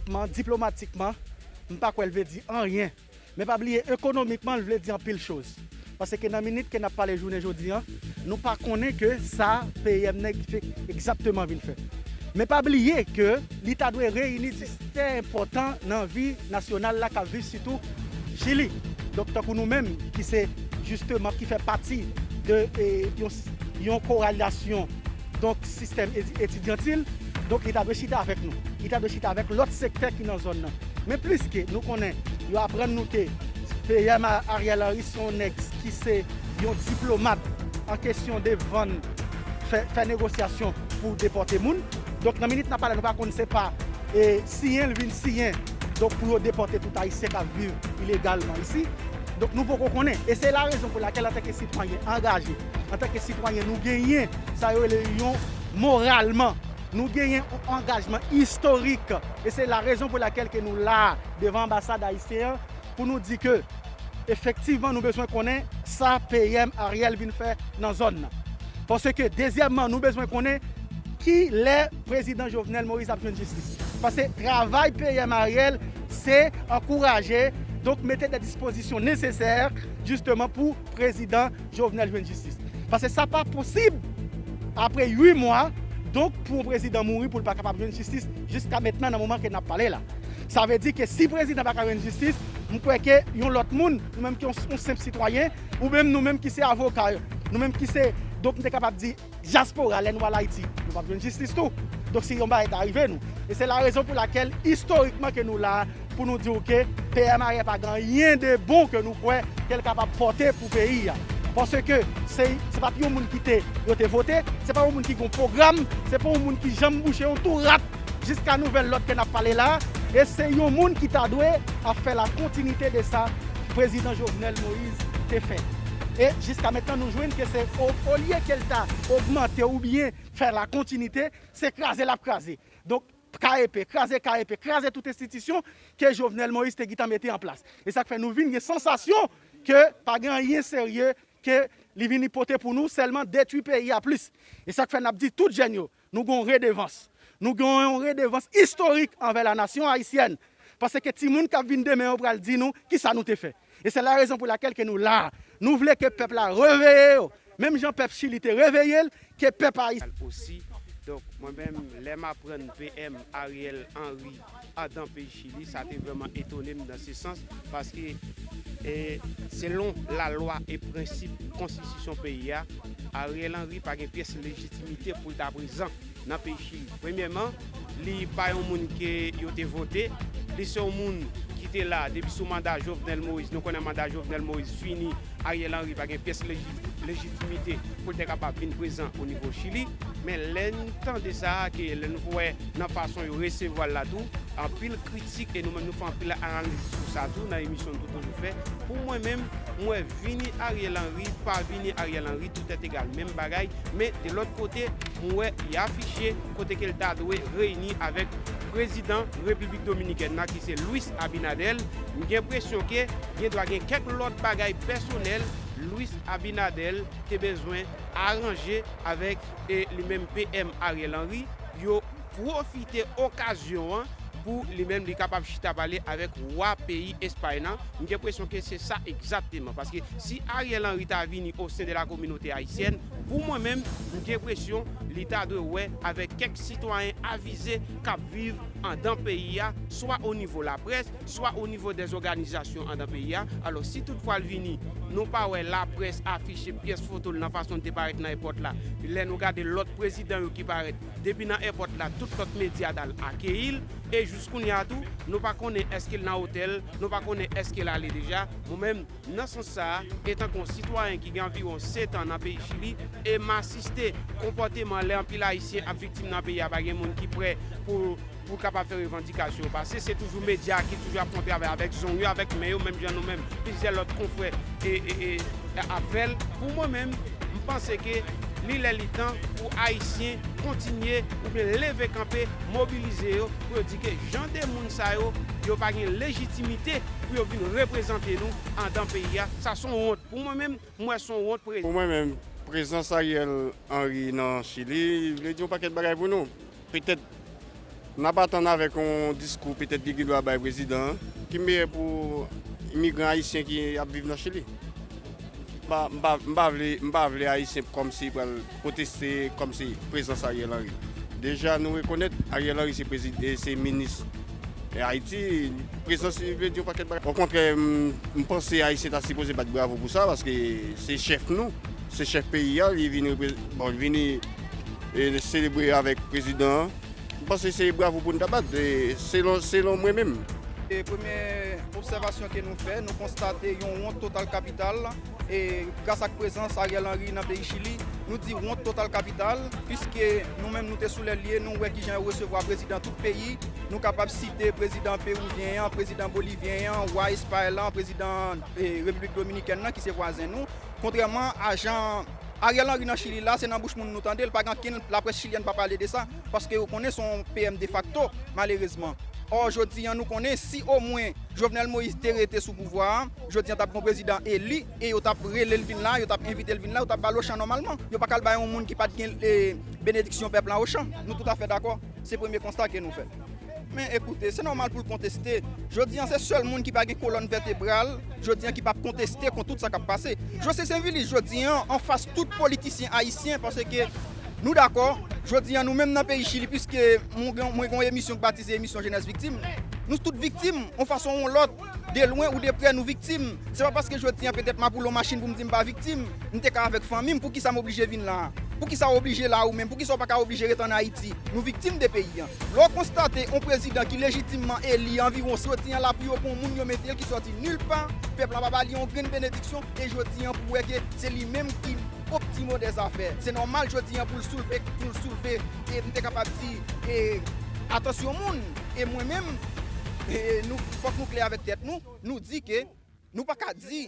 Kman diplomatikman, m pa kwè l vle di anyen. Men pa bliye ekonomikman l vle di anpil choz. Pase ke nan minit ke n ap pale jounen jodi an, nou pa konnen ke sa PM nèg di fè egzakteman vin fè. Men pa bliye ke li ta dwe reyini di stè enpòtan nan vi nasyonal la k ap viv sitou Chili. Donk tankou nou menm ki se jisteman ki fè pati de yon yon koralyasyon. donk sistèm etidyantil, donk li ta dwe chita avèk nou, li ta dwe chita avèk lòt sektè ki nan zòn nan. Men pliske nou konnen, yo aprann nou ke PM Ariel Henry se yon nèg ki se yon diplomat an kesyon de vann, fè negosyasyon pou depòte moun. Donk nan minit n ap pale a nou pa konn se pa siyen l vin siyen donk pou yo depòte tout ayisyen k ap viv ilegalman isi. Donk nou poko konnen e se larezon pou lakèl antanke sitwayen angaje Antanke sitwayen nou genyen sa yo rele yon moralman. Nou genyen yon angajman istorik e se la rezon pou lakèl ke nou la a devan anbasad ayisyen an pou nou di ke efektivman nou bezwen konnen sa PM Ariel vin fè nan zòn nan. Paske dezyèmman nou bezwen konnen ki lè Prezidan Jovenel Moïse ap jwenn jistis li. Paske travay PM Ariel se ankouraje donk mete dè dispozisyon nesesè jisteman pou Prezidan Jovenel jwenn jistis. Paske sa pa posib apre 8 mwa donk pou yon prezidan mouri pou l pa kapab jwenn jistis jiska mentnan nan moman ke nap pale la. Sa vle di ke si prezidan pa ka jwenn jistis m kwè ke yon lòt moun nou menm ki yon senp sitwayen ou menm nou menm ki se avoka yo nou menm ki se donk m te kapab di Diaspora lè nou al Ayiti nou pap jwenn jistis tou donk si yon bagay ta rive nou e se la rezon pou lakèl istorikman ke nou la pou nou diw ke PMARE pa gen anyen de bon ke nou kwè kel kapab pòte pou peyi a paske se se pat yon moun kite yo te vote se pa yon moun ki gon pwogram se pa yon moun ki janm bouche yon tou rat jiska nouvèl lòd ke nap pale la e se yon moun ki ta dwe ap fè la kontinite de sa Prezidan Jovenel Moïse. te fè e jiska mentnan nou jwenn ke se olye ke l ta ogmante oubyen fè la kontinite se kraze l ap kraze donk KEP kraze KEP kraze tout enstitisyon ke Jovenel Moïse te gitan mete an plas e sa k fè nou vin gen sansasyon ke pa gen anyen serye ke li vini pote pou nou sèlman detwi peyi a plis e sa k fè n ap di tout jèn yo Nou gen yon redevans. Nou gen yon redevans istorik anvè la nasyon ayisyèn. Paske timoun k ap vin demen yo pral di nou ki sa nou te fè. E se la rezon pou lakèl ke nou la a. Nou vle ke pèp la reveye yo. Menm jan pèp Chili te reveye l, ke pèp Ayisyen. Al osi. Donk mwen menm lè m aprann PM Ariel Henry. a dan peyi chili sa te vreman etone m nan se sans paske e selon la lwa e prensip konstitisyon peyi a Ariel Henry pa gen pyès lejitimite pou l ta prezan nan peyi chili premyèman li pa yon moun ke yo te vote li se yon moun ki te la depi sou manda Jovenel Moïse nou konnen manda Jovenel Moïse fini Ariel Henry pa gen pyès lejitimite pou l te kapab vin prezan o nivo Chili, men lè n tande sa a ke lè n wè nan fason yo resevwa l la tou, anpil kritik e nou menm nou fè anpil analiz sou sa tou nan emisyon n tou toujou fè, pou mwen menm, m wè vini Ariel Henry, pa vini Ariel Henry tout èt egal menm bagay, men de lòt kote m wè li afiche kote ke l ta dwe reyini avèk prezidan Repiblik Dominikèn nan ki se Luis Abinader, m gen presyon ke. gen dwa gen kèk lòt bagay pèsonèl Luis Abinader te bezwen aranje avèk li menm PM Ariel Henry, yo pwofite okazyon an pou li menm li kapab chita pale avèk wa peyi Espay lan, m gen presyon ke se sa egzakteman, paske si Ariel Henry ta vini o sen de la kominote ayisyèn, pou mwen menm, m gen presyon li ta dwe wè avèk kèk sitwayen avize kap viv andan peyi a, swa o nivo laprès, swa o nivo dè zòganizasyon andan peyi a, alò si tout fwa l vini nou pa wè laprès afiche pyès foto l nan fason l te parèt nan èpòt la, lè nou gade lòt prezidan yo ki parèt depi nan èpòt la tout lòt medya t al akeyi l e jiskounye a tou nou pa konnen èske l nan otèl l, nou pa konnen èske l ale deja. Mwen menm, nan sans sa a, etanke on sitwayen ki gen anviwon setan nan peyi Chili e m asiste konpòteman lè anpil Ayisyen ap viktim nan peyi a pa gen moun ki prè pou Pou w kapab fè revandikasyon w pase, se toujou medya a ki toujou ap fon travay avèk zong yo, avèk men yo, menm jan nou menm, plizyè lòt konfrè ap fè l. Pou mwen menm, m panse ke li lè li tan pou Ayisyen kontinye oubyen leve kanpe, mobilize yo pou yo di ke jan de moun sa yo, yo pa gen lejitimite pou yo vin reprezante nou andan peyi a. Sa son wont. Pou mwen menm, m wè son wont pre. Pou mwen menm, prezans Ariel Henry nan Chili vle di yon pakèt bagay pou nou. Petèt n ap atann avèk yon diskou petèt li gendwa bay prezidan an ki meyè pou imigran ayisyen ki ap viv nan Chili. M pa vle ayisyen kòmsi pral pwoteste kòmsi prezans Ariel Henry. Deja nou rekonèt Ariel Henry se minis Ayiti, prezans li vle di yon pakèt bagay. Okontrè m panse ayisyen ta sipoze bat bravo pou sa paske se chèf nou, se chèf peyi a li vini. E li selebre avèk prezidan an. M panse se bravo pou n ta bat, selon mwen menm. Premye obsèvasyon ke nou fè, nou konstate yon wont total kapital e gras ak prezans Ariel Henry nan peyi Chili. Nou di wont total kapital puiske nou menm nou te sou lè lye, nou wè ki jan yo resevwa prezidan tout peyi. Nou kapab site prezidan Peruvyen an, prezidan Bolivyen an, wa Espay lan, prezidan Repiblik Dominikèn lan ki se vwazen nou. Kontrèman a jan. Ariel Henry nan chili la se nan bouch moun nou tandel pa gen ankenn laprès chilyèn pa pale de sa paske yo konnen son PM defakto malerezman or jodi an nou konnen si o mwen Jovenel Moïse te rete sou pouvwa a jodi an tap gon prezidan eli e yo tap relel vin la yo tap envitel vin la yo tap bal ochan nòmalman yo pakal bay yon moun ki pat gen benediksyon pèp la ochan nou toutafè dakò se premye konsta ke nou fè. Men ekoute, se nòmal pou l konteste. Jodi an, se sèl moun ki pa gen kolòn vètebral jodi an ki pa p konteste kont tout sa k ap pase. José Sainvilus jodi an anfas tout politisyen ayisyen paske nou dakò, jodi an nou menm nan peyi Chili piske mwen gen yon emisyon k batize emisyon Jenès Viktim, nou tout viktim yon fason ou yon lòt. De lwen ou de prè nou viktim Se pa paske jodi an petèt m ap woule yon machin pou m di m pa viktim M te ka avèk fanmi m Poukisa m oblije vin la a Poukisa w oblije la a ou menm Poukisa w pa ka oblije ret ann Ayiti Nou viktim de peyi an Lè w konstate yon prezidan ki lejitimman eli anviwon soti an la pou yo pon moun yo mete l ki soti nil pa Pèp la pa ba li yon grenn benediksyon E jodi an pou w wè ke se li menm ki Optimon de zafè. Se nòmal jodi an pou l soulve, pou l soulve, e m te kapab di, e, atansyon moun, e mwen menm, e nou, fòk nou klè avèk tèt nou, nou di ke nou pa ka di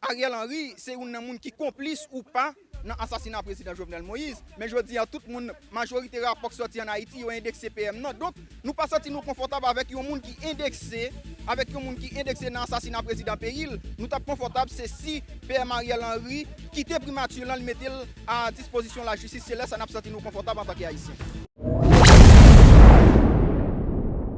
Ariel Henry se youn nan moun ki konplis ou pa nan asasina Prezidan Jovenel Moïse, men jodi an tout moun. Majorite rapò k sòti an Ayiti yo endekse PM nan. Donk, nou pa santi nou konfòtab avèk yon moun ki endekse, avèk yon moun ki endekse nan asasina prezidan peyi l. Nou t ap konfòtab se si PM Ariel Henry kite primati lan, li mete l a dispozisyon lajistis, se lè sa n ap santi nou konfòtab antanke Ayisyen.